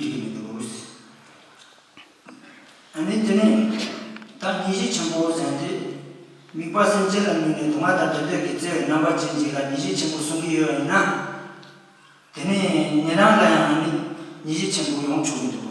འགྲིག་མི་འདུག། ཨ་ནི་དེ་ནས་ད་ཉིད་གཞི་ཆེན་པོ་གཟེངས་ཏེ། དམིགས་པ་སེམས་ཅན་ལ་བསྣུན་ནས་དུ་མ་དང་འབྲལ་འདོད་ཀྱི་བརྩེ་བའི་རྣམ་པ་ཅན་ཅིག་ལ་ཉིད་གཞི་ཆེན་པོ་གསུང་གི་ཡོད་པ་ཡིན་ན། དེ་ནས་ངེད་རང་ལ་ཡང་ཨ་ནི་ཉིད་གཞི་ཆེན་པོ་ཡོང་ཆོག་གི་འདུག།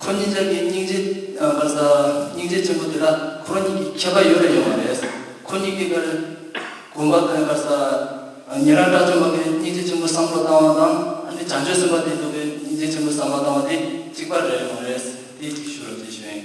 ཁོ་གཉིས་ཀྱང་ངའི་སྙིང་རྗེ། སྙིང་རྗེ་ཆེན་པོ་དེ་དག་ཁོ་རང་ཉིད་ཀྱི་ཁྱད་པར་ཡོད་རེ་ཡོང་བ་རེད། ཁོ་གཉིས་ཀྱིས་ཀར་གོང་པ་ཁོན་ཀར་ས། ཉེ་རང་བཀྲ་བརྗོད་མ་ཁའི་སྙིང་རྗེ་ཆེན་པོ་བསམ་བློ་བཏང་བ་དང་ཨ་ནི་བྱང་ཆོས་སེམས་དཔའ་བདེ་སྡུག་པའི་སྙིང་རྗེ་ཆེན་པོ་བསམ་བློ་བཏང་བ་དེ་གཅིག་པ་རེད་ཡོང་རེད། དེ་གཅིག་ཞུ་རོགས་གྱིས་བྱོན།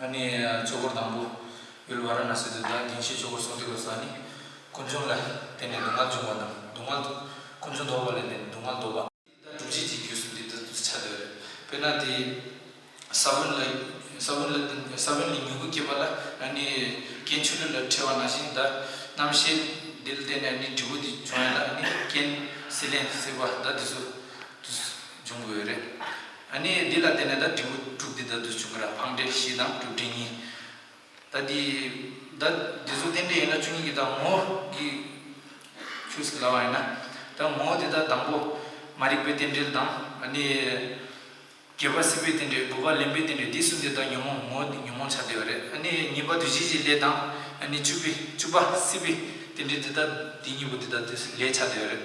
ང་ནི་ཚོགས་སྐོར་དང་པོ་ཡུལ་བྷ་ར་ན་སི་དུ་དང་དགེ་བཤེས་ཆོས་འཁོར་སོགས་བསྡད་དགོས་ས་ནི། ཀུན་འབྱུང་ལ་བརྟེན་ནས་སྡུག་བསྔལ་འབྱུང་བ་དང་སྡུག་བསྔལ། ཀུན་འབྱུང་དོར་བ་ལས་ནི་སྡུག་བསྔལ་དོར་བ། དེ་དག་སྒྲུབ་བྱེད་ཀྱི་རྒྱུས་སུ་འདི་ལྟར་བྱ་འདོད་རེད། དཔེར་ན་དེ། ས་བོན་ལ་ས་བོན་ལ་ས་བོན་ལས་མྱུ་གུ་སྐྱེས་པ་ལ་ང་ནི་རྐྱེན་ཆུ་ལུད་ལ་འཕྲད་བ་ན་བཞིན་འདར། རྣམ་ཤེས་འདི་ལ་བརྟེན་ནས་ནི་འབྲས་བུ་འདི་འབྱུང་ཡང་ལ་ནི་རྐྱེན་སྲིད་ལན་སྲིད་པ་ཟླ་འདི་ཚོ་འབྱུང་དགོས་རེད། ཨ་ནི་འདི་ལ་བརྟེན་ནས་ད་དྲིལ་བུ་དཀྲུགས་འདི་ད་དུ་བྱུང་གི་ར་འཕང་འདྲེ་བཞི་དང་དཀྲུགས་འདྲེ་གཉིས། ད་འདི། ད་འདི་ཚོ་རྟེན་འབྲེལ་ཡིན་ན་བཅུ་གཉིས་ཀྱི་ད་ངོ། གི། ཆུ་སྲི་ལ་བ་ཡིན་ན། ད་ངོ་དེ་དག་དང་པོ། མ་རིག་པའི་རྟེན་འབྲེལ་དང། ཨ་ནི། བརྒྱད་པ་སྲིད་པའི་རྟེན་འབྲེལ་དགུ་པ་ལེན་པའི་རྟེན་འབྲེལ་འདི་གསུམ་དེ་དག་ཉོན་མོངས་ངོ་ཉོན་མོངས་ཆགས་བདེ་བ་རེད་ཨ་ནི་གཉིས་པ་དུས་བཞི་བཞི་ལས་དང། ཨ་ནི་བཅུ་བི་བཅུ་པ་སྲིད་པའི་རྟེན་འབྲེལ་འདི་དག་འདི་གཉིས་པོ་འདི་དག་དུས་ལས་ཆགས་བདེ་བ་རེད།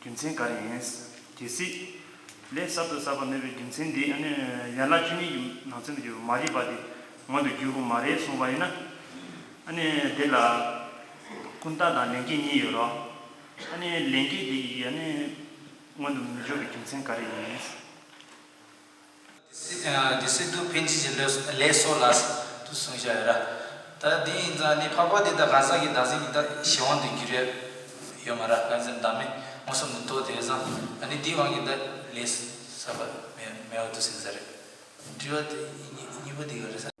རྒྱུ་མཚན་ག་རེ་ཡིན། གལ་སྲིད། ལས་གསར་དུ་གསར་པ་མེད་པའི་རྒྱུ་མཚན་དེ་ཡང་ནི་ཡན་ལག་བཅུ་གཉིས་ཀྱི་ནང་ཚན་དུ་གྱུར་པའི་མ་རིག་པ་དེ་ངོ་དུ་འགྱུར་དགོས་མ་རེད་གསུངས་པ་ཡིན་ན། ཨ་ནི་དེ་ལ། ཀུན་བརྟགས་དང་ལན་སྐྱེས་གཉིས་ཡོད་རོགས། ཨ་ནི་ལན་སྐྱེས་དེ་ཡི་ཨ་ནི། སྔོན་དུ་མི་འཇོག་པའི་རྒྱུ་མཚན་ག་རེ་ཡིན། དེ་སྲིད་དུ་ཕན་ཆད་ཀྱི་ལས་གསོ་ལ་དུ་གཟུང་བྱ་ཡོད་ར། ད་དེ་ཡིན་ཙང་ནི་འཕགས་པ་དེ་དག་གང་ཟག་གི་བདག་འཛིན་གྱི་བདག་གཞན་དབང་དུ་འགྱུར་ཡས་ཡོད་མ་ར་གང་ཚེ་བདག་མེད་མངོན་སུམ་དུ་རྟོགས་དེས་ཙང་ནི་དེའི་དབང་གིས་བདག་ལས་གསོ་བ་མེད་འོ་དུ་ཟིན་ས་རེད། དྲི་བ་དེ་གཉིས་པོ་དེ་ག་རེད།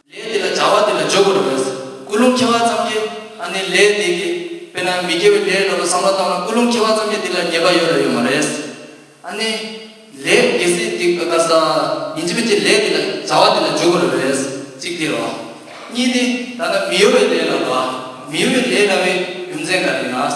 ལས་དེ་ལ་བྱ་བ་དེ་ལ་བརྗོད་དགོས་རེད་བས། ཀུན་སློང་ཁྱེར་བ་ཙམ་གྱིས་ཨ་ནི་ལས་འདི་གི། དཔེར་ན་མི་དགེ་བའི་ལས་ལ་ལོ་བསམ་བློ་བཏང་ན་ཀུན་སློང་ཁྱེར་བ་ཙམ་གྱིས་དེ་ལ་ཉེས་པ་ཡོད་རེད་ཡོད་མ་རེད། ཨ་ནི། ལས་དགེ་སེལ་དེ་ག་ས། ཡིན་གཅིག་པའི་ཕྱིར་ལས་དེ་ལ་བྱ་བ་དེ་ལ་བརྗོད་དགོས་རེད་བས། གཅིག་དེ་རེད། གཉིས་ནི། ད་ལྟ་མི་གཡོ་བའི་ལས་ལ་ལོ། མི་གཡོ་བའི་ལས་ལ་བའི་རྒྱུ་མཚན་ག་རེ་ཡིན་ན།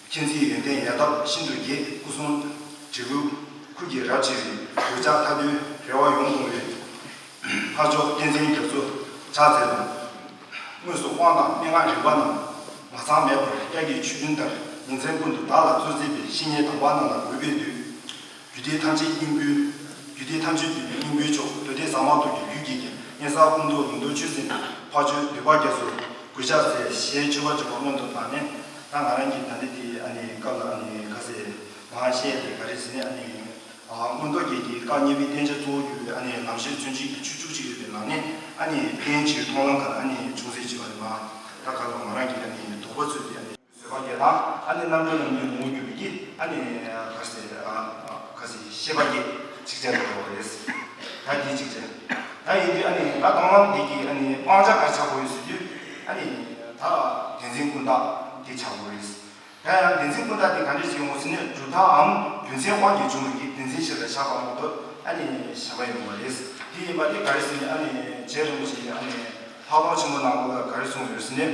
མཁྱེན་བརྩེའི་ཡོན་ཏན་ཡལ་འདབ་ཤིན་ཏུ་རྒྱས། སྐུ་གསུང་བྲིས་སྐུ་ཁུར་གྱིས་རབ་ཕྱེ་བའི། གདུལ་བྱ་མཐའ་དོན་རེ་བ་ཡོངས་སྐོང་བའི། འཕགས་མཆོག་བསྟན་འཛིན་རྒྱ་མཚོ་ཕྱག་འཚལ་ལོ། དངོས་སུ་དབང་དང་མན་ངག་རིག་པ་རྣམས། མ་ཚང་མེད་པར་དབྱར་གྱི་ཆུ་རྒྱུན་ལྟར་ཉིན་མཚན་ཀུན་ཏུ་བདག་ལ་སྩོལ་མཛད་པའི་བཤེས་གཉེན་དམ་པ་རྣམས་ལ་གུས་པས་འདུད། རྒྱུད་སྡེ་ཐམས་ཅད་སྙིང་པོའི་རྒྱུད་སྡེ་ཐམས་ཅད་འདུས་པའི་སྙིང་པོའི་མཆོག་གདོལ་བདེ་གསང་མ་ཐུགས་ཀྱི་རྒྱུད་རྒྱལ་བསྟན་གཉན་གསང་སྐུ་མདོག་ཉི་ཟློག་ཆུ་སྲིན་དང་འཕགས་མཆོད་ལུས་འཕགས་རྒྱ་མཚོ་གུས་ཕྱག་འཚལ་ཞེས་མཆོད་པ་བརྗོད་པ་སྔོན་དུ་བཏང་ནས། ད་ང་རང་གིས་ད་ལྟའི་དེའི་ཨ་ནི་སྐབས་ལ་ཨ་ནི་ཁ་ཟས་མ་བཤད་ཡ་ལས་ག་རེ་ཟེར་ནས་ཨ་ནི། སྔོན་རྡོ་རྒྱལ་གྱིས་བཀའ་གཉན་པའི་བསྟན་བྱ་གཙོ་བོར་གྱུར་པའི་ཨ་ནི་ལམ་ཤེར་མཚོན་བྱེད་ཀྱི་ཆོས་བཅུ་གཅིག་རེད་པའི་ནང་ནས་ཨ་ནི་བསྟན་བྱའི་མཐོང་ལམ་ག་ལ་ཨ་ནི་ཅུང་ཟད་ལྕི་བ་རེད་མ་ད་ག་ལ་ང་རང་གིས་ཨ་ནི་དོགས་པ་ཚུད་དེ་ཨ་ནི། བཟོད་པ་བརྒྱད་དང། ཨ་ནི་རྣམ་གྲོལ་རྣམས་ཀྱི་ལུང་བརྒྱུད་པའི་ཀྱི་ཨ་ནི། ག་ཤེད་ག་ཤེད་ཤེས་པ་ཀྱི་ཚིགས་བཅད་དུ་འགྲོ་བ་རེད། ད་འདིའི་ཚིགས་བཅད་ད་ཡིན་དུས་ཨ་ནི་ད་དང་བླངས་དེ་ཀྱི་ཨ་ནི་སྤང་བྱ་གར་ཆགས་པོ་ཡོད་ཟེར་དུས་ཨ་ནི། ད་བདེན་འཛིན་ཀུན་བརྟགས་དེ་ཆགས་པོ་རེད། ད་ཡང་བདེན་འཛིན་ཀུན་བརྟགས་དེ་ག་འདྲས་ཤིག་ཡོང་བ་ཟེར་ནས་གྲུབ་མཐའ་འམ་རྒྱུ་མཚན་དབང་གིས་བྱུང་བའི་ཀྱི་བདེན་འཛིན་ཞིག་ལ་ཆགས་པ་མོ་དོ་ཨ་ནི་ཞེན་པ་ཡོང་བ་རེད། དེ་ཡིན་པ་དེ་ག་རེ་ཟེར་ནས་ཨ་ནི་རྗེ་རིན་པོ་ཆེ་ཡིས་ཨ་ནི་ལྷག་མཐོང་ཆེན་པོ་གནང་སྐོར་ལ་ག་རེ་གསུངས་ཡོད་ཟེར་ནས།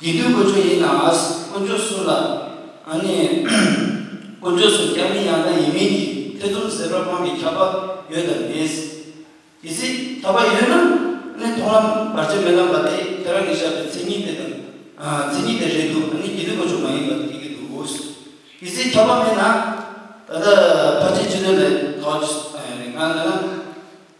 དགེ་འདུན་དཀོན་མཆོག་ཡིན་ནའང་དཀོན་མཆོག་སུ་ལ་ཨ་ནི། དཀོན་མཆོག་སུ་རྒྱ་མིན་ཡང་ན་ཡིན་མིན་གྱི་ཐེ་ཚོམ་ཟད་པར་དབང་གི་ཁྱབ་པ་ཡོད་དམ་མེད། གལ་སྲིད་ཁྱབ་པ་ཡོད་ན་ཨ་ནི་མཐོང་ལམ་བར་ཆད་མེད་ལམ་པ་དེ་ཁྱེད་རང་གིས་བཞག་པའི་མཚན་ཉིད་དེ་དང་མཚན་ཉིད་དེ་རེད་འདུག་ཨ་ནི་དགེ་འདུན་དཀོན་མཆོག་མ་ཡིན་པ་དེ་ཡིན་གྱི་འདུག་གལ་སྲིད་ཁྱབ་པ་མེད་ན། ད་ལྟ་ཕར་ཕྱིན་ཅི་ལོན་ལས་ཐོག་ཆེ་ང་ལ་ན།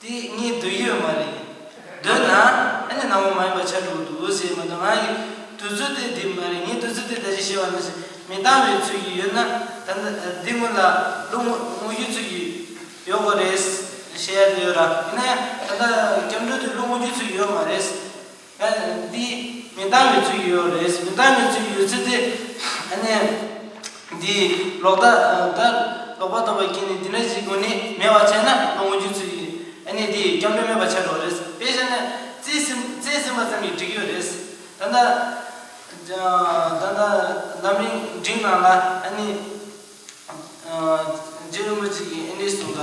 དེ་གཉིས་འདོད་ཡོད་མ་རེད། འདོད་ན། ཨ་ནི་སྣང་བ་མ་ཡིན་པ་ཆ་དྲུག་འདུག་ཟེར་མི་འདུག་ང་ཡི་དུས་ཚོད་དེ་འདི་མ་རེད་ངའི་དུས་ཚོད་དེ་ད་ཅི་ཞེས་པ་ནི་མི་བཏང་བའི་ཚུལ་གྱིས་ཡོད་ན་ད་འདི་སྔོན་ལ་ལོ་ངོ་ངོ་བརྒྱུད་ཚུལ་གྱིས་ཡོད་དགོས་རེད། ཞེས་ཡ་དེ་ཡོད་ར། ཡིན་ན་ད་ལྟ་སྐྱབས་འགྲོ་དེ་ལོ་ངོ་བརྒྱུད་ཚུལ་གྱིས་ཡོད་མ་རེད། ཨ་ནི་འདི་མི་འདང་བའི་ཚུལ་ཡོད་རེད་ཟེར་མི་འདང་བའི་ཚུལ་ཡོད་ཚུལ་དེ་ཨ་ནི་འདི་ལོག་ལྟ་ལྟ་ལོག་པ་ལྟ་བ་ཀྱིས་ནི་འདི་འདྲ་ཞིག་གོ་ནི་མེད་བ་བྱས་ན་ལོ་ངོ་བརྒྱུད་ཚུལ་ཡིན་ཨ་ནི་འདི་སྐྱབས་འགྲོ་མེད་པ་བྱས་འགྲོ་རེད་ཟེར་དཔེ་བཞག་ན་རྩེ་ཟིན་རྩེ་ཟིན་པ་ཙམ་གྱིས་འགྲིག་ཡོད་རེད་ཟེར་ད་ལྟ་ད་ལྟ་ལམ་རིང་འགྲིག་ནང་ལ་ཨ་ནི་རྗེ་རིན་པོ་ཆེ་གིས་ཨ་ནི་གསུངས་པ།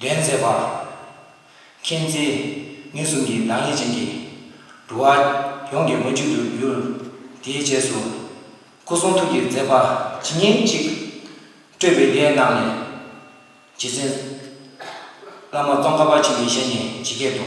འགྲན་མཛད་པ། མཁྱེན་བརྩེ་ནུས་གསུམ་གྱི་གདང་ལེགས་ཅན་གྱིས། འགྲོ་བ་ཡོངས་ཀྱི་མ་མཇུག་ཏུ་བསྒྱུར། དེའི་རྗེས་སུ། སྐུ་གསུང་ཐུགས་ཀྱི་མཛད་པ་ཇི་སྙེད་ཅིག། སྤྲོས་པའི་སྡེ་རྣམས་ལས། རྗེ་བཙུན། བླ་མ་སྟོང་ཀ་པ་ཆེན་པོའི་ཞལ་ནས་ཇི་སྐད་དུ།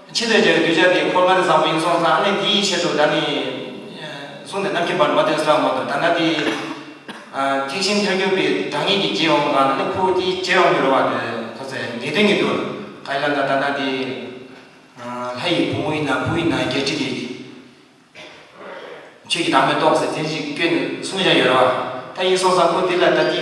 ཁྱེད་ལས་ཀྱང་གདུལ་བྱ་འདི་འཁོར་ལྔ་རི་བཟང་པོ་ཡིན་གསུངས་སམ་ཨ་ནི་དེའི་ཆེད་དུ་ད་ནི། གསུངས་ཏེ་ནམ་མཁའི་བར་མ་དོན་སོགས་མ་དོ་ད་ན་དེའི། ཐེག་ཆེན་ཐལ་འགྱུར་པའི་བདག་ཉིད་ཀྱིས་རྗེས་འོང་གང་ན་ནི་ཁོ་བོ་དེའི་རྗེས་འོང་གི་རོལ་བ་དེ་ཐོ་ཚེ་ངེས་དོན་ཉིད་དུ། ག་ཡི་ལམ་དང་ད་ན་དེའི། ལྷ་ཡི་བུ་མོ་ཡིན་ན་བུ་ཡིན་ན་བརྒྱད་ཁྲི་གི། ཆོས་ཀྱི་བདག་མོས་རྟོགས་ཟེར་དེ་བཞིན་སྐྱོན་གསུངས་བཞག་ཡོད་རེད་བ། ད་ཡིན་གསུངས་སམ་ཁོ་དེ་ལ་ད་དེའི།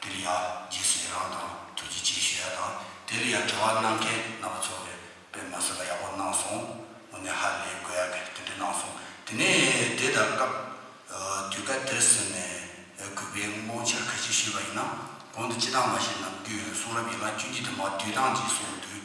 འདིར་ཡང་རྗེས་སུ་ཡི་རང་དང་ཐུགས་རྗེ་ཆེ་ཞུ་ཡ་དང་དེ་ལ་ཡང་དྲི་བ་གནང་མཁན་རྣམ་པ་ཚོར་བའི་པད་མ་བཟོད་པ་ཡག་པོ་གནང་སོང་དངོས་གནས་ཧ་ལས་དགོས་ཡག་གི་དེ་འདྲ་གནང་སོང་དེ་ནས་དེ་ད་སྐབས་དུས་སྐབས་དེར་ཟེར་ནས་གུས་པས་དངོས་འཆར་གལ་ཆེ་ཞུས་པ་ཡིན་ན་གོང་དུ་སྤྱི་སྟངས་མ་ཤེས་ནམ་རྒྱུན་གསུང་རབ་ཡན་ལག་བཅུ་གཅིག་དུ་མ་དུས་དང་རྗེས་སུ་ཡོད་དུས་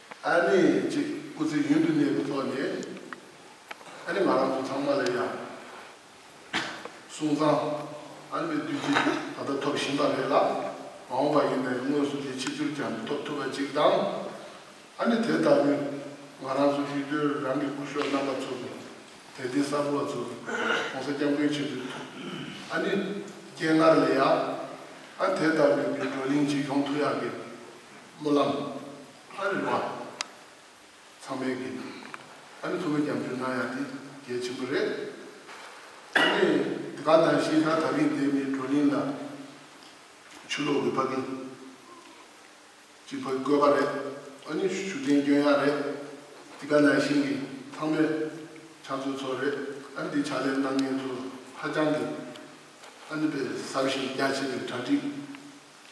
ཨ་ནེ་ཅིག་སྐུ་ཚེ་ཡུན་དུ་གནས་པའི་ཐོག་ནས་ཨ་ནེ་ང་རང་ཚོ་ཚང་མ་ལ་ཡང་སོང་ཙང་ཨ་ནེ་པའི་བདུད་རྩི་ད་ལྟ་ཐོབ་བཞིན་པ་རེད་ལ་མ་འོངས་པ་ཡིན་ནའི་དངོས་སུ་དེ་ཕྱི་ཚུལ་ཀྱང་མི་ཐོབ་ཐུབ་པ་ཅིག་དང། ཨ་ནེ་དེ་ལྟ་བུས་ང་རང་ཚོ་ཤུལ་སྡོད་རང་གི་སྐུ་གཞོགས་རྣམ་པ་ཚོ་དང་དད་ལྡན་གསར་བུ་བ་ཚོར་གོང་ས་སྐྱབས་མགོན་ཆེན་པོའི་ཐུགས་ཨ་ནེ་སྤྱན་སྔར་ལས་ཡང་ཨ་ནེ་དེ་ལྟ་བུའི་མི་བགྲོ་གླིང་གཅིག་ཡོང་ཐུག་ཡག་གི་སྨོན་ལམ། ལྷ་རིག་པ། ཚང་མའི་དགེ་རྒན། ཨ་ནི་ཁོ་མོས་རྒྱབ་སྐྱོར་གནང་ཡག་འདི་གལ་ཆེན་པོ་རེད། ཨ་ནི་དེ་ག་ནང་བཞིན་ད་ད་རིང་འདིར་མིའི་བགྲོ་གླིང་ལ་ཆུ་ལོག་འོད་ཕབ་གིན། ཅིག་ཕ་གི་བཀོད་པ་རེད། ཨ་ནི་ཞུ་རྟེན་སྐྱོན་ཡག་རེད། འདི་ག་ནང་བཞིན་གྱི་ཚང་མའི་ཕྱག་མཛོད་ཚོ་རེད། ཨ་ནི་འདི་ཕྱག་ལས་གནང་མཁན་ཚོ་ཧ་ཅང་གི་ཨ་ནི་པའི་བསམ་ཤེས་རྒྱ་ཆེ་བའི་གྲ་སྒྲིག་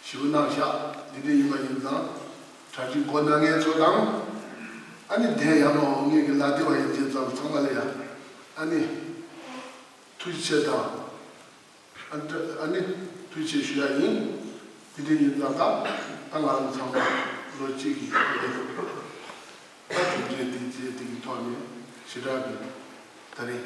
ཞེས་པའི་རྣམ་གཞག་འདི་འདྲ་ཡིན་པ་ཡིན་ཙང། གྲྭ་བཞི་མགོ་ན་ངའི་ཚོ་དང། ཨ་ནི་བདེན་ཡང་མ་འོངས་ངེད་ཀྱི་ལག་བདེ་བ་ཡིན་བྱས་ཙང་ཚང་མ་ལ་ཡང། ཨ་ནི། ཐུགས་རྗེ་ཆེ་དང། ཨ་ནི། ཐུགས་རྗེ་ཞུ་ཡག་ཡིན། འདི་འདྲ་ཡིན་ཙང་ད་ལྟ་ང་རང་ཚང་མ་ལོ་གཅིག་གི་ཁོ་ལས་ཐུབ་ཐུབ་ལ་གྲུབ་རྗེས་འདི་རྗེས་འདི་གི་ཐོག་ནས་ཞེ་དྲག་གི། ད་རེས།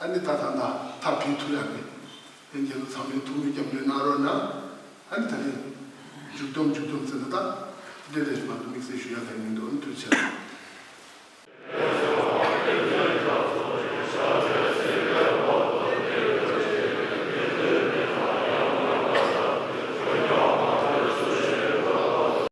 ཨ་ནི་ད་ཐང་ད་ཐག་བྲིས་ཐུབ་ཡག་མེད། དེ་འཇལ་ལོ་ཚང་མས་ཐུགས་མི་རྒྱབ་འདོད་གནང་རོགས་གནང། ཨ་ནི་ད་རེད། མཇུག་སྡོམ་མཇུག་སྡོམ་ཟེར་ན་ད། འདི་འདྲ་ཞིག་ང་ཚོ་དམིགས་བསལ་ཞུ་ཡག་ག་ཡེ་མི་འདུག་ཨ་ནི་ཐུགས་ཆེ་རེད།